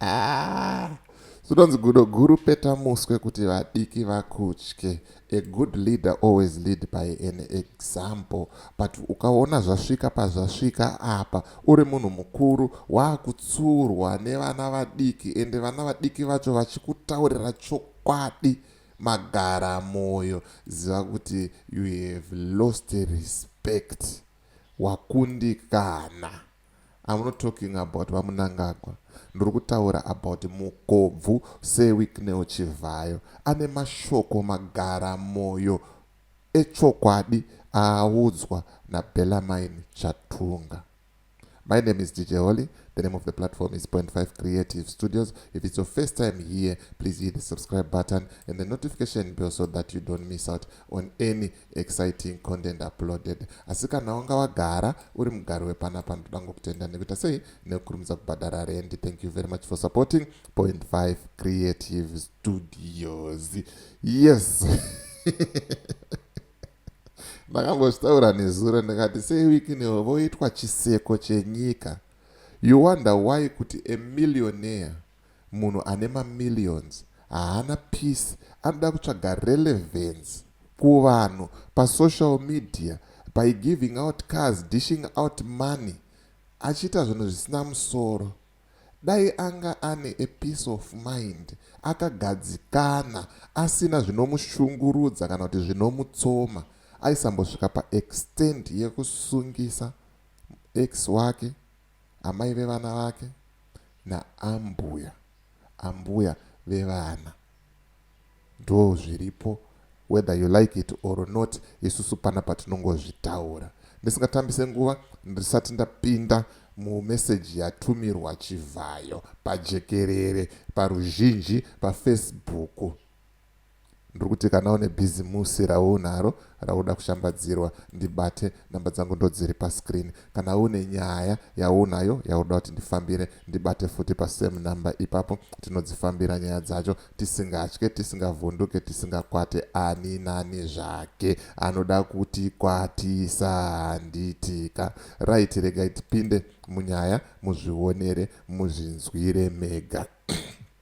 Ah, zvinonzi gudo guru peta muswe kuti vadiki vakutye a good leader always lead by an example but ukaona zvasvika pazvasvika apa uri munhu mukuru waakutsurwa nevana vadiki ende vana vadiki vacho vachikutaurira chokwadi magara moyo ziva kuti you have lost respect wakundikana I'm not talking about vamunangagwa ndiri kutaura about mukobvu sewicknel chivhayo ane mashoko magara moyo echokwadi aaudzwa nabelamain chatunga My name is DJ Holly. The name of the platform is Point Five Creative Studios. If it's your first time here, please hit the subscribe button and the notification bell so that you don't miss out on any exciting content uploaded asi kana wanga wagara uri mugari wepanapa ndoda ngokutenda nekuita sei nekukurumidza kubhadhara rendi thank you very much for supporting point 5 creative studios yes ndakambozvitaura nezuro ndikati sewiki newo voitwa chiseko chenyika you wonder why kuti a millionaire Munhu ane mamillions haana peace anoda kutsvaga relevance kuvanhu pasocial media by giving out cars, dishing out money achiita zvinhu zvisina musoro. Dai anga ane a peace of mind akagadzikana asina zvinomushungurudza kana kuti zvinomutsoma aisambosvika paextent yekusungisa ex wake Amai vevana vake naambuya ambuya vevana ndozviripo whether you like it or not isusu pana patinongozvitaura ndisingatambise nguva ndisati ndapinda mumeseji yatumirwa chivhayo pajekerere paruzhinji pafacebook ndiri kuti kana une bhizimusi raunaro raunoda kushambadzirwa ndibate namba dzangu ndodziri pascreen kana une nyaya yaunayo yaunoda kuti ndifambire ndibate futi pasame number ipapo tinodzifambira nyaya dzacho tisingatye tisingavhunduke tisingakwate ani nani zvake anoda kuti kwatisa handitika right regai tipinde munyaya muzvionere muzvinzwire mega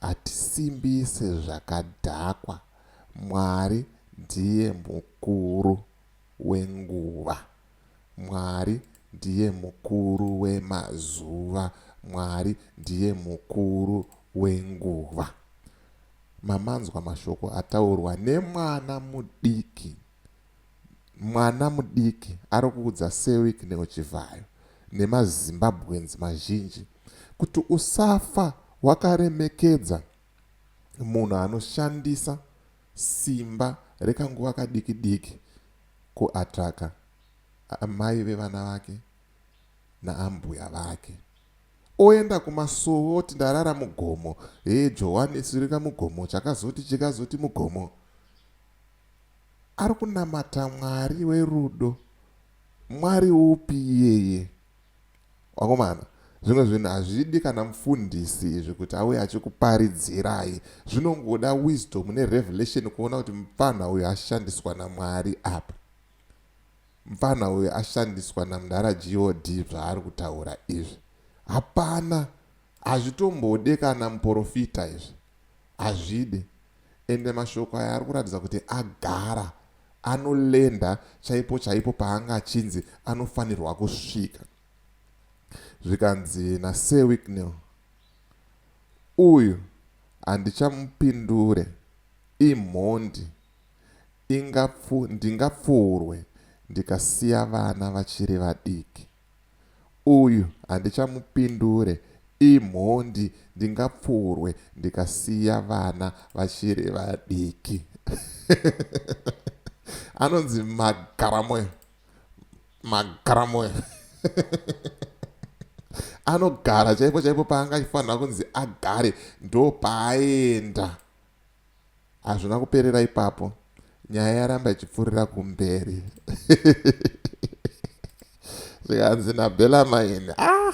hatisimbise zvakadhakwa Mwari ndiye mukuru wenguva Mwari ndiye mukuru wemazuva Mwari ndiye mukuru wenguva Mamanzwa mashoko ataurwa nemwana mudiki mwana mudiki ari kuudza Sir Wicknell Chivhayo nemaZimbabweans mazhinji kuti usafa wakaremekedza munhu anoshandisa simba rekanguva kadiki diki kuatraka amai vevana vake naambuya vake oenda kumasuo oti ndarara mugomo hee johani sirika mugomo chakazoti chikazoti mugomo ari kunamata mwari werudo mwari upi iyeye Vakomana, zvimwe zvinhu hazvidi kana mufundisi izvi kuti auye achikuparidzirai. Zvinongoda wisdom nerevelation kuona kuti mupfanha uyu ashandiswa naMwari apa. Mupfanha uyu ashandiswa naMdara GOD zvaari kutaura izvi. Hapana Hazvitombode kana muporofita izvi hazvide ende mashoko aya ari kuratidza kuti agara anolenda chaipo chaipo paanga achinzi anofanirwa kusvika zvikanzi nasir wicknell uyu handichamupindure imhondi ingapfu ndingapfuurwe ndikasiya vana vachiri vadiki Uyu handichamupindure imhondi ndingapfurwe ndikasiya vana vachiri vadiki anonzi magaramoyo magaramoyo anogara chaipo chaipo paanga achifanira kunzi agare ndopaaenda Hazvina kuperera ipapo, nyaya yaramba ichipfuurira kumberi zvikanzi naBella maini ah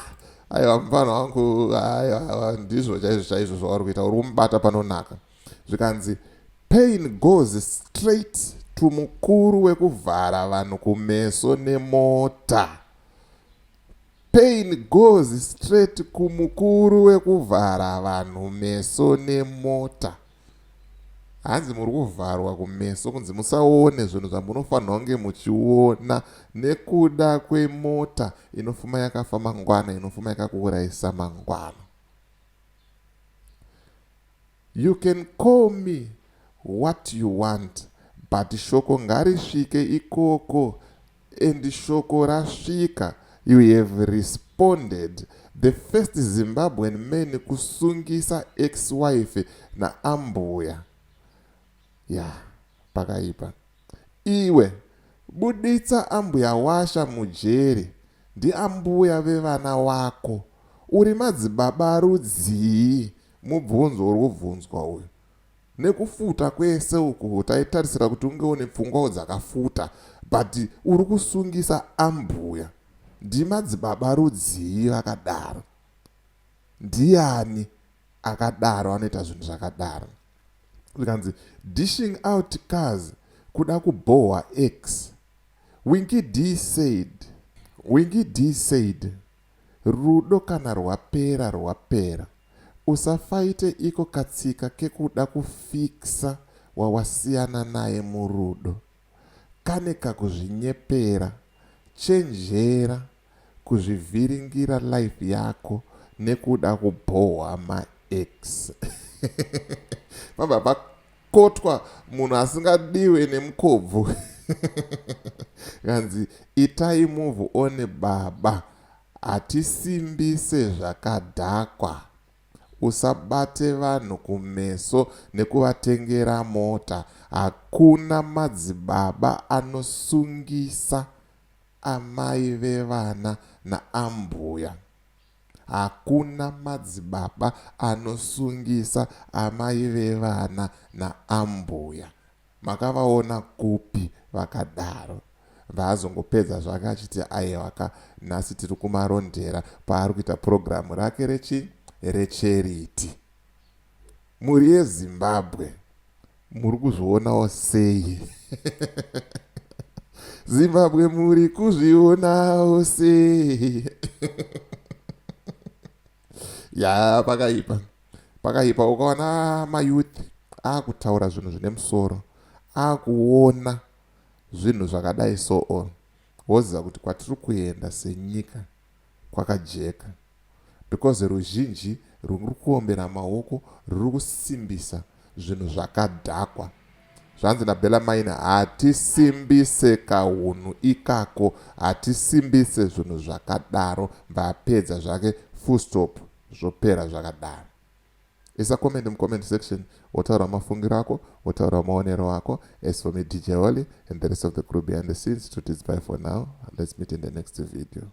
aiwa mufana wangu aiwa ndizvo chaizvo chaizvo zvauri kuita uri kumubata panonaka zvikanzi pain goes straight to mukuru wekuvhara vanhu kumeso nemota Pain goes straight kumukuru wekuvhara vanhu meso nemota. Hanzi muri kuvharwa kumeso kunzi musaone zvinhu zvamunofanirwa kunge muchiona nekuda kwemota inofuma yakafa mangwana inofuma yakakuurayisa mangwana. You can call me what you want but shoko ngarisvike ikoko and shoko rasvika you have responded the first Zimbabwean man kusungisa ex wife naambuya ya pakaipa iwe buditsa ambuya washa mujeri ndiambuya vevana wako uri madzibaba rudzii Mubvunzo uri kubvunzwa uyu. Nekufuta kwese uku taitarisira kuti unge une pfungwawo dzakafuta but uri kusungisa ambhuya. Ndimadzibaba rudzii vakadaro? Ndiyani akadaro anoita zvinhu zvakadaro? Zvikanzi dishing out cars kuda kubhohwa ex. Winky Dee said. Winky Dee said. Rudo kana rwapera rwapera. Usafaite iko katsika kekuda kufixer wawasiyana naye murudo. Kane kakuzvinyepera. Chenjera kuzvivhiringira life yako nekuda kubhohwa maex. Vabva kotwa munhu asingadiwe nemukobvu kanzi itai move one baba hatisimbise zvakadhakwa usabate vanhu kumeso nekuvatengera mota hakuna madzibaba anosungisa amai vevana naambuya Hakuna madzibaba anosungisa amai vevana naambuya. Makavaona kupi vakadaro. Vaazongopedza zvake achiti aiwaka nhasi tiri kuMarondera kwaari kuita purogiramu rake rechi recharity. Mhuri yeZimbabwe muri kuzvionawo sei? Zimbabwe muri kuzvionawo sei? ya pakaipa pakaipa ukaona mayouth akutaura zvinhu zvine musoro akuona zvinhu zvakadai so on woziva kuti kwatiri kuenda senyika kwakajeka because ruzhinji rwuri kuombera maoko rwuri kusimbisa zvinhu zvakadhakwa. Zvanzi naBella Mine hatisimbise kahunhu ikako, hatisimbise zvinhu zvakadaro vapedza zvake full stop zvopera zvakadaro. Isa comment mucomment section wotaura mafungiro ako wotaura maonero ako as for me DJ Holly and the rest of the crew behind the scenes to bye for now let's meet in the next video.